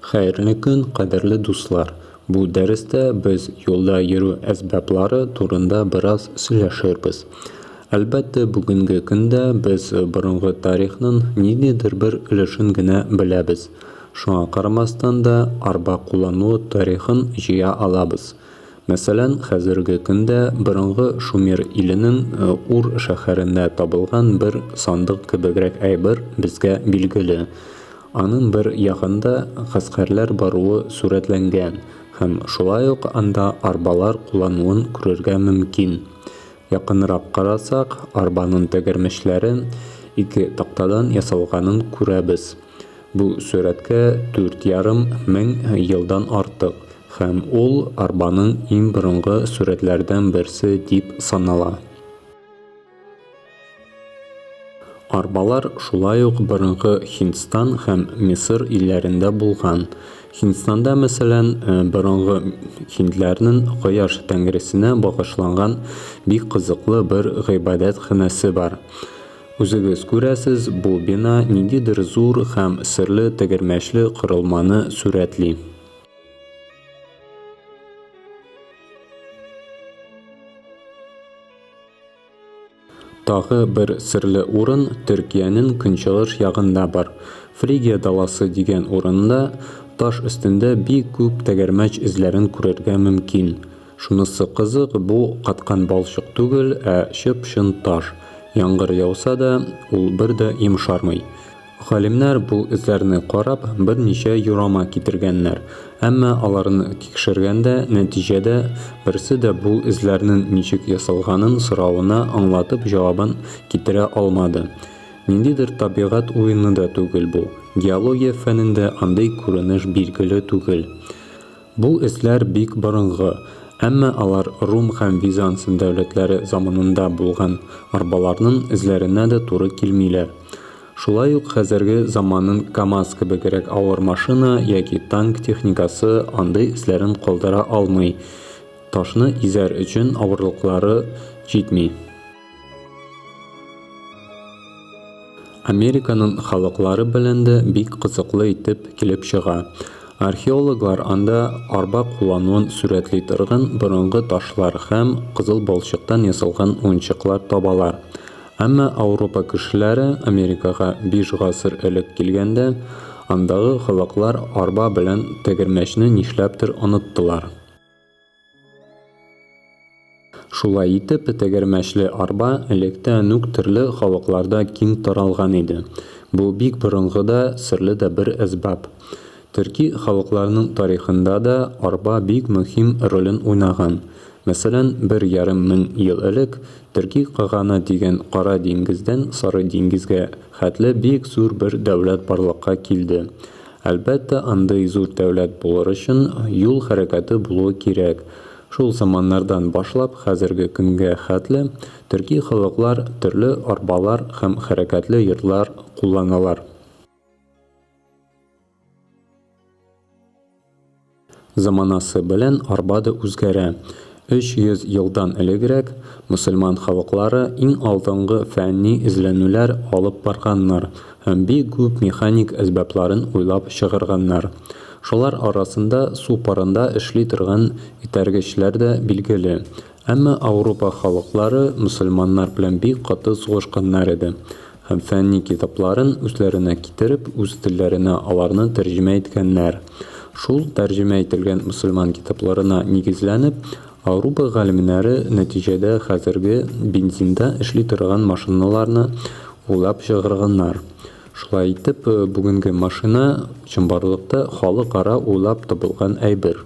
Хәерле көн, кадерле дуслар! Бу дәрестә без юлда йөрү әсбаплары турында бераз сөйләшербез. Әлбәттә, бүгенге көндә без борынгы тарихның ниндидер бер өлешен генә беләбез. Шуңа карамастан да, арба куллануы тарихын җыя алабыз. Мәсәлән, хәзерге көндә борынгы Шумер иленең Ур шәһәрендә табылган бер сандык кебегрәк әйбер безгә билгеле. Аның бер ягында гаскәрләр баруы сурәтләнгән һәм шулай ук анда арбалар куллануын күрергә мөмкин. Якынрак карасак, арбаның тәгәрмәчләре ике тактадан ясалганын күрәбез. Бу сурәткә дүрт ярым мең елдан артык һәм ул арбаның иң борынгы сурәтләрдән берсе дип санала. Арбалар шулай ук борынгы Һиндстан һәм Мисыр илләрендә булган. Һиндстанда, мәсәлән, борынгы һиндләрнен кояш тәңресенә багышланган бик кызыклы бер гыйбадәт ханәсе бар. Үзегез күрәсез, бу бина ниндидер зур һәм серле тегермәчле корылманы сурәтли. Тагы бер серле урын Төркиянең көнчыгыш ягында бар. Фригия даласы дигән урында таш өстендә бик күп тәгәрмәч эзләрен күрергә мөмкин. Шунысы кызык, бу каткан балчык түгел, ә чып-чын таш. Яңгыр яуса да, ул бер дә йомшармый. Галимнәр бу эзләрне карап, берничә юрама китергәннәр. Әмма аларны тикшергәндә, нәтиҗәдә, берсе дә бу эзләрнен ничек ясалганын соравына аңлатып җавабын китерә алмады. Ниндидер табигать уены да түгел бу. Геология фәнендә андый күренеш билгеле түгел. Бу эзләр бик борынгы, әмма алар Рум һәм Визанс дәүләтләре заманында булган арбаларның эзләренә дә туры килмиләр. Шулай ук хәзерге заманын КАМАЗ кебегрәк авыр машина яки танк техникасы андый эзләрен калдыра алмый, ташны изәр өчен авырлыклары җитми. Американың халыклары белән дә бик кызыклы итеп килеп чыга. Археологлар анда арба куллануын сурәтли торган борынгы ташлар һәм кызыл балчыктан ясалган уенчыклар табалар. Әмма Ауропа кешеләре Америкага биш гасыр элек килгәндә, андагы халыклар арба белән тәгәрмәчне нишләптер оныттылар. Шулай итеп, тегермәчле арба электән үк төрле халыкларда киң таралган иде. Бу бик борынгы да, серле дә бер әсбап. Төрки халыкларның тарихында да арба бик мөһим ролен уйнаган. Мәсәлән, бер ярым мең ел элек Төрки каганы дигән Кара диңгездән Сары диңгезгә хәтле бик зур бер дәүләт барлыкка килде. Әлбәттә, андый зур дәүләт булыр өчен юл хәрәкәте булуы кирәк. Шул заманнардан башлап хәзерге көнгә хәтле төрки халыклар төрле арбалар һәм хәрәкәтле йортлар кулланалар. Заманасы белән арба да үзгәрә. 300 елдан элегрәк мөселман халыклары иң алдынгы фәнни эзләнүләр алып барганнар һәм бик күп механик әсбапларын уйлап чыгарганнар. Шулар арасында су парында эшли торган этәргечләр дә билгеле. Әмма Ауропа халыклары мөселманнар белән бик каты сугышканнар иде һәм фәнни китапларын үзләренә китереп, үз телләренә аларны тәрҗемә иткәннәр. Шул тәрҗемә ителгән мөселман китапларына нигезләнеп, Ауропа галимнәре нәтиҗәдә хәзерге бензинда эшли торган машиналарны уйлап чыгарганнар. Шулай итеп, бүгенге машина, чынбарлыкта, халыкара уйлап табылган әйбер.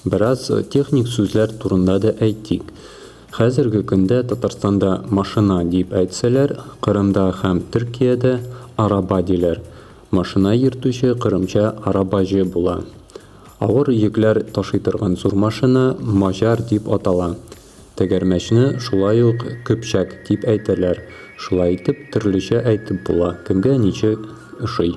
Бераз техник сүзләр турында да әйтик. Хәзерге көндә Татарстанда машина дип әйтсәләр, Кырымда һәм Төркиядә араба диләр. Машина йөртүче кырымча арабаҗы була. Авыр йөкләр ташый торган зур машина маҗар дип атала. Тәгәрмәчне шулай ук көпчәк дип әйтәләр. Шулай итеп, төрлечә әйтеп була, кемгә ничек ошый.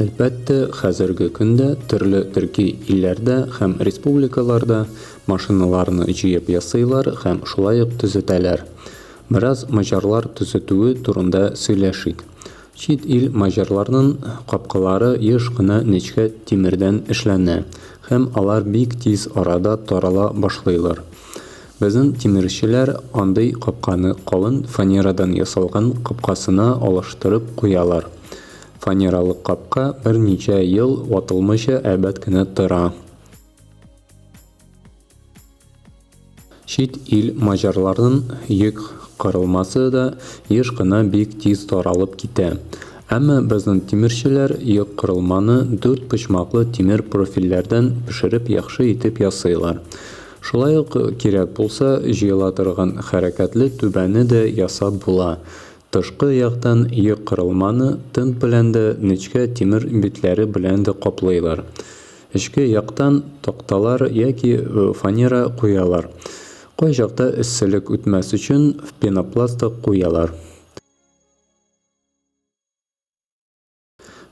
Әлбәттә, хәзерге көндә төрле төрки илләрдә һәм республикаларда машиналарны җыеп ясыйлар һәм шулай ук төзетәләр. Бераз маҗарлар төзетүе турында сөйләшик. Чит ил маҗарларнын капкалары еш кына нечкә тимердән эшләнә һәм алар бик тиз арада тарала башлыйлар. Безнн тимерчеләр андый капканы калын фанерадан ясалган капкасына алыштырып куялар. Фанералы капка берничә ел ватылмыйча әйбәт кенә тора. Чит ил маҗарларының йөк кырылмасы да еш кына бик тиз таралып китә. Әмма безнең тимерчеләр йөк кырылманы дүрт почмаклы тимер профильләрдән пешереп яхшы итеп ясыйлар. Шулай ук кирәк булса, җыела торган хәрәкәтле түбәне дә ясап була. Тышкы яктан йөк корылманы тент белән дә, нечкә тимер битләре белән дә каплыйлар. Эчке яктан такталар яки фанера куялар. Кайчакта эсселек үтмәс өчен пенопласт та куялар.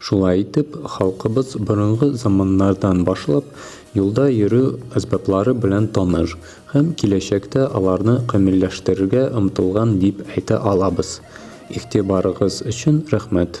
Шулай итеп, халкыбыз борынгы заманнардан башлап юлда йөрү әсбаплары белән таныш һәм киләчәктә аларны камилләштерергә омтылган дип әйтә алабыз. Игътибарыгыз өчен рәхмәт!